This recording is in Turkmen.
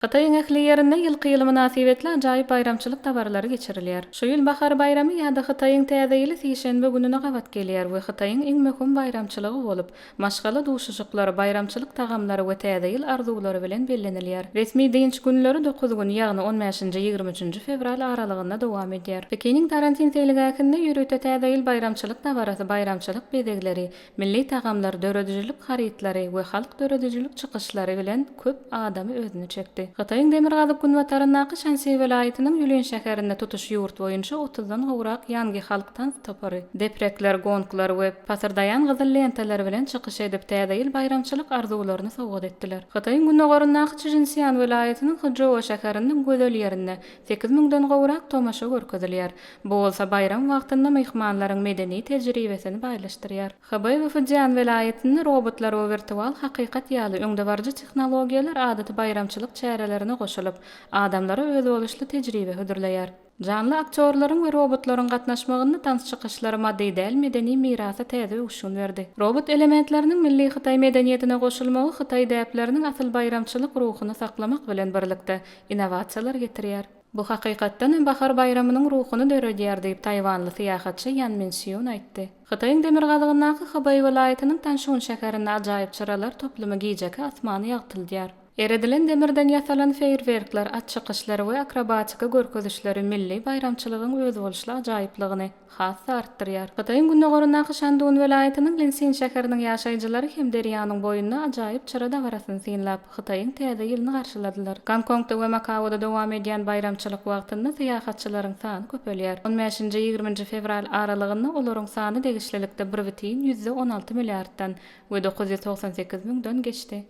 Hytaýyň ähli ýerinde ýylky ýyly mynasybetli ajaýyp baýramçylyk dabaralary geçirilýär. Şu ýyl Bahar baýramy ýa-da Hytaýyň Täze ýyly sişenbe gününe gabat gelýär we Hytaýyň iň möhüm baýramçylygy bolup, maşgala duşuşyklary, baýramçylyk tagamlary we Täze ýyl arzuwlary bilen bellenilýär. Resmi dynç günleri dokuz gün, ýagny on bäşinji, ýigrimi üçünji fewral aralygynda dowam edýär. Pekiniň Tarantin seýilgähinde ýörite Täze ýyl baýramçylyk dabarasy, baýramçylyk bezegleri, Milli tagamlar, döredijilik harytlary we halk döredijilik çykyşlary bilen köp adamy özüne çekdi. Hytaýyň demirgazyk-günbataryndaky Şansi welaýatynyň Ýulin şäherinde tutuş ýurt boýunça otuzdan gowrak ýangi halk tans topary, deprekler, gonglar we pasyrdaýan gyzyl lentalar bilen çykyş edip, Täze ýyl baýramçylyk arzuwlaryny sowgat etdiler. Hytaýyň gündogaryndaky Çžinsian welaýatynyň Hjou şäheriniň gözel ýerinde Sekiz müňden gowrak tomaşa görkezilýär. Bu bolsa baýram wagtynda myhmanlaryň medeni tejribesini baýlaşdyrýar. Hybaý we Fujian welaýatynda robotlar we wirtual hakykat ýaly öňdebaryjy tehnologiýalar adaty baýramçylyk çärelerine goşulyp, adamlara özboluşly tejribe hödürleýär. Janly aktýorlaryň we robotlaryň gatnaşmagynda tans çykyşlary maddy däl medeni mirasa täze öwüşgin berdi. Robot elementleriniň milli hytaý medeniýetine goşulmagy hytaý däpleriniň asyl baýramçylyk ruhuny saklamak bilen birlikde, innowasiýalar getirýär. Bu hakykatdan hem bahar baýramynyň ruhuny döredýär diýip, taýwanly syýahatçy Ýan Min Sýun aýtdy. Hytaýyň demirgazygyndaky Hybeý welaýatynyň Tanşun şäherinde ajaýyp çyralar toplumy gijeki asmany ýagtyldýar. Eredilen demirden ýasalan feýerwerkler, at çykyşlary we akrobatiki görkezişleri milli baýramçylygyň özboluşly ajaýyplygyny, has-da artdyrýar. Hytaýyň gündogaryndaky Şandun welaýatynyň Linsin şäheriniň ýaşaýjylary hem derýanyň boýunda ajaýyp çyra dabarasyny synlap, Hytaýyň Täze ýylyny garşyladylar. Gonkongda we Makaoda dowam edýän baýramçylyk wagtynda syýahatçylaryň sany köpelýär. On bäşinji, ýigriminji fewral aralygynda olaryň sany degişlilikde bir bütin ýüzde on alty milliarddan we dokuz ýüz togsan sekiz müňden geçdi.